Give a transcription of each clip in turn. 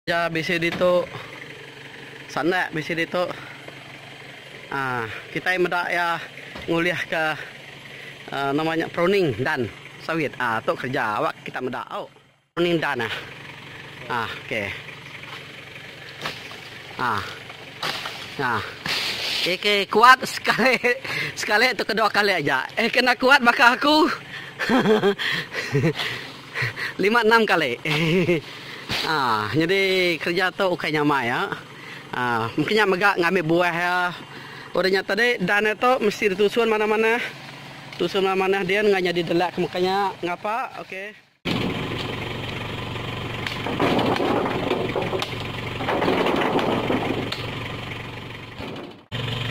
Aja bisi ditu. Sandak bisi ditu. Aa kitai meda iya ngulihka aa nama nya pruning dan sawit. Aa tu kerja awak kita meda au. Pruning dan ah. Aa okey. Aa. Aa. Eke kuat sekali sekali tu kedua kali aja. Eh kena kuat baka aku. Lima enam kali. Haa nyadi kereja tu ukai nyamai ya. Haa mungkin nya mega ngambi buah ya. Udah nya tadi dan dia tu mesti ditusun manah-manah. Tusun manah-manah din enggau nyadi delak ke meka nya ngapa okey.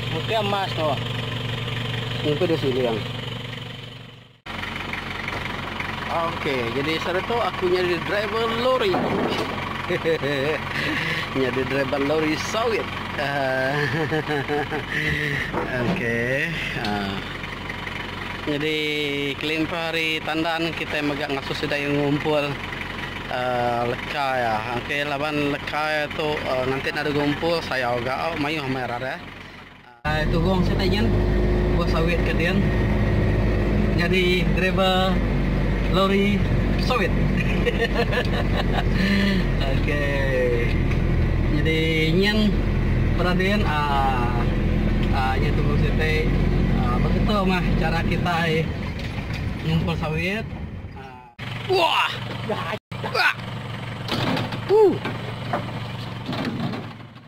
Mungkin emas tu. Mungkin dia siling. Okey, jadi sehari tu aku jadi driver lori. jadi driver lori sawit. Uh, Okey. Uh. Jadi kelimpah hari tandan kita megang ngasuh sida yang ngumpul uh, lekai ya. Okey, laban lekai tu uh, nanti ada ngumpul saya juga oh, mayuh mai rare. Turung siti nyin buah sawit ke din nyadi driver lori sawit. ok nyadi nyin peda din aaa nyadi turung siti beketu mah chara kitai ngumpul sawit aaa.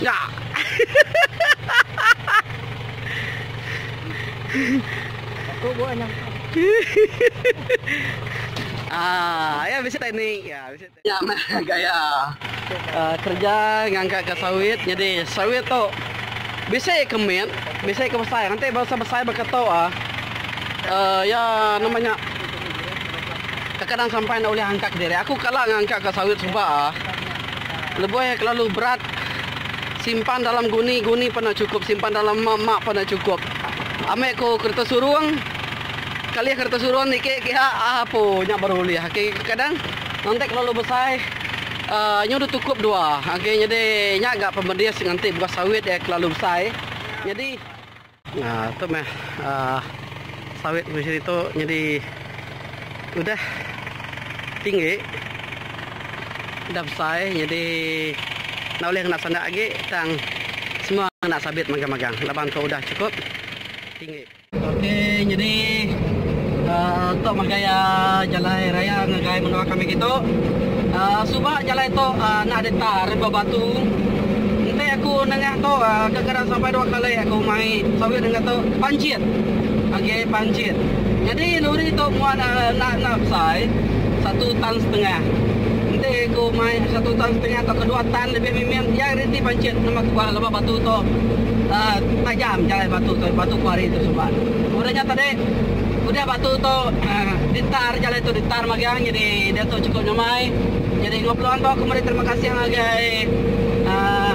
Nya. Aku buat nyam. Ah, ya bisi teknik. Ya bisi teknik. Nyam gaya. Uh, kerja ngangkat ke sawit jadi sawit tu bisi ke mit, bisi ke besai. Nanti bangsa besai berkata ah. Uh, ya nama nya kadang sampai ndak ulih angkat diri. Aku kala ngangkat ke sawit suba ah. Lebuh iya kelalu berat, simpan dalam guni, guni pan enda chukup, simpan dalam mak, mak pan enda chukup. Amik ku kereta surung, kalih kereta surung niki kiha apo nya baru ulih aki kadang nanti kelalu besai uhh nyu deh tukup dua aki nyadi nya ga pemedis nganti buah sawit iya kelalu besai nyadi. Nah, tu meh uh, sawit mesin itu jadi udah tinggi, udah besar, jadi nak boleh kena sandak lagi, tang semua nak sabit magang-magang. Laban tu udah cukup tinggi. Okey, jadi uh, tu magai uh, jalan raya ngagai menua kami gitu. Uh, suba jalan tu uh, nak ada tar bebatu. Nanti aku nengah tu uh, Kadang sampai dua kali aku mai sawit denga tu panjit. Agi ai panjit. Nyadi lori tu muat enda enda besai, satu tan setengah. Enti ku mai satu tan setengah tauka dua tan lebih mimit iya reti panjit nama ku bah laban batu tu uhh tajam jalai batu tu, batu kuari tu suba. Udah nya tadi udah batu tu uhh ditar jalai tu ditar magang nyadi diatu chukup nyamai. Nyadi enggau peluang tu aku meri terima kasih ngagai uhh.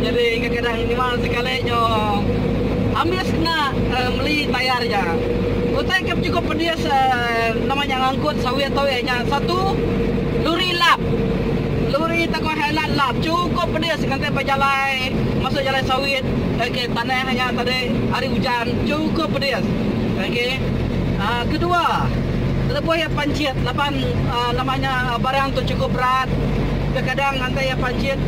Jadi kadang-kadang nyema sekali nyo ambis kena meli tayar nya. Utai ke bechukup pedis nama nya ngangkut sawit tu iya nya satu luri lap. Luri tauka highland lap chukup pedis ngagai bejalai masuk jalai sawit ok tanah nya tadi hari ujan chukup pedis ok. Kedua lebuh iya pancit laban nama nya barang tu chukup berat kadang-kadang. Tang iya pajit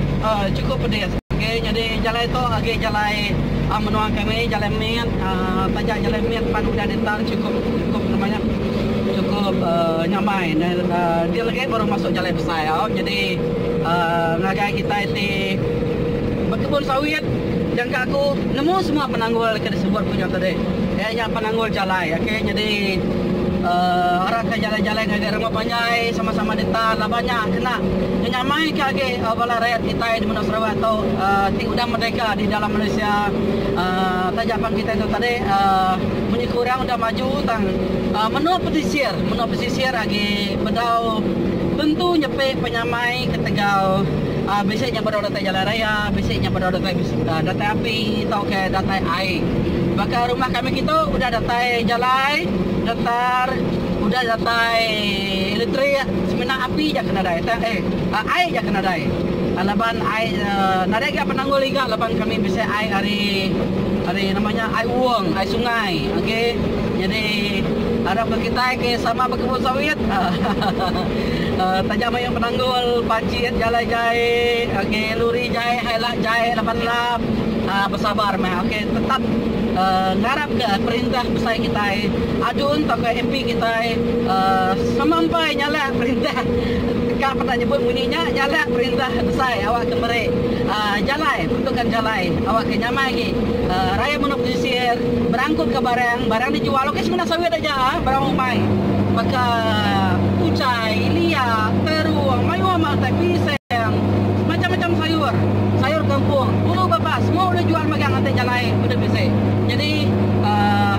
chukup pedis. Okey nyadi jalai tu agi jalai menua kami jalai mit taja jalai mit pan udah ditar chukup chukup nama nya chukup nyamai dia legi baru masuk jalai besai au nyadi ngagai kitai ti bekebun sawit jangka aku nemu semua penanggul ke disebut ku nya tadi iya nya penanggul jalai okey nyadi arah ka jalai-jalai ngagai. Sama panjai, sama-sama dita laban nya kena ngenyamaika agi bala rayat kitai di menua Sarawak tu ti udah merdeka di dalam Malaysia taja pan kitai tu tadi munyi ke orang udah maju tang menua pesisir menua pesisir agi bedau tentu nyepi penyamai ketegal bisi nya bedau datai jalai raya, bisi nya bedau datai api tauka datai ai. Baka rumah kami kitu udah datai jalai, getar. Udah datai elektrik semina api ja ke nadai tang eh ai ja ke nadai laban ai nadai ga penanggul iga laban kami bisi ai ari ari nama nya ai uong ai sungai oke jadi arap ga kitai ke sama bekebun sawit ahahaha taja mayuh penanggul pajit jalai jai oke luri jai hai lak jai laban lap besabar meh oke. Tetap ngarap ke perintah besai kitai, ADUN tauka MP kitai sama empai nyalak perintah ka peda nyebut munyi nya nyalak perintah besai awak ke meri jalai peruntukan jalai awak ke nyamai agi rayat menua pesisir berangkut ka barang, barang di jual ok semina sawit aja barang umai baka ucai, lia, terung mayuh mah utai pisang. Magang semacam-macam sayur, sayur kangkung, bulu bapa semua ulih jual magang enti jalai udah bisi. Nyadi uhh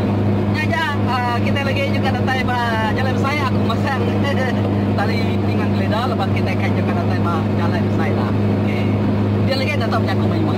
nya aja uhh kitai lagi nyengka datai ba jalai besai aku masang tali nginang gelida laban kitai kai nyengka datai ba jalai besai dah. Okey. Dia lagi enda tau bejaku mayuh.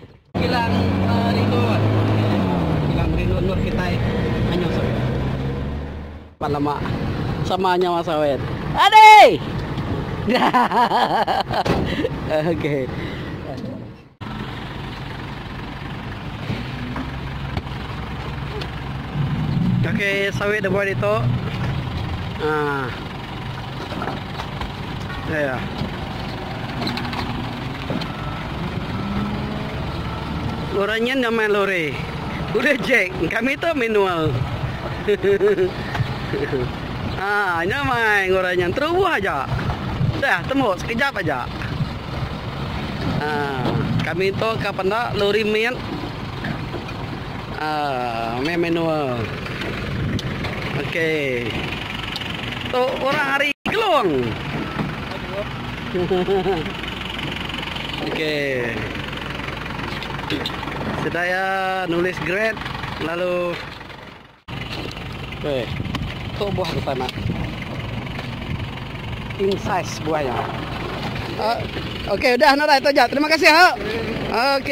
Kilang rindu Kilang rindu endur kitai Anyor sawit. Pan lama sama nyawa sawit. Adei! Kaki sawit da buai ditu. Yeah. Orang nyen nyamai lori. Udah Jack, kami tu manual. ah, nyamai orang nyen terubuh aja. Dah temu sekejap aja. Ah, kami tu ka penda lori mit. Aaa meh manual ok tu orang ari kelong ok sedai ya nulis grade lalu weh tu buah ke sana king size buah nya ok udah no dai tu aja terima kasih ho ok.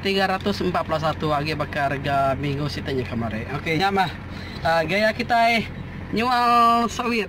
Tiga ratus empat puluh satu agi baka rega minggu situ nya kemari. Okey nya mah gaya kitai nyual sawit.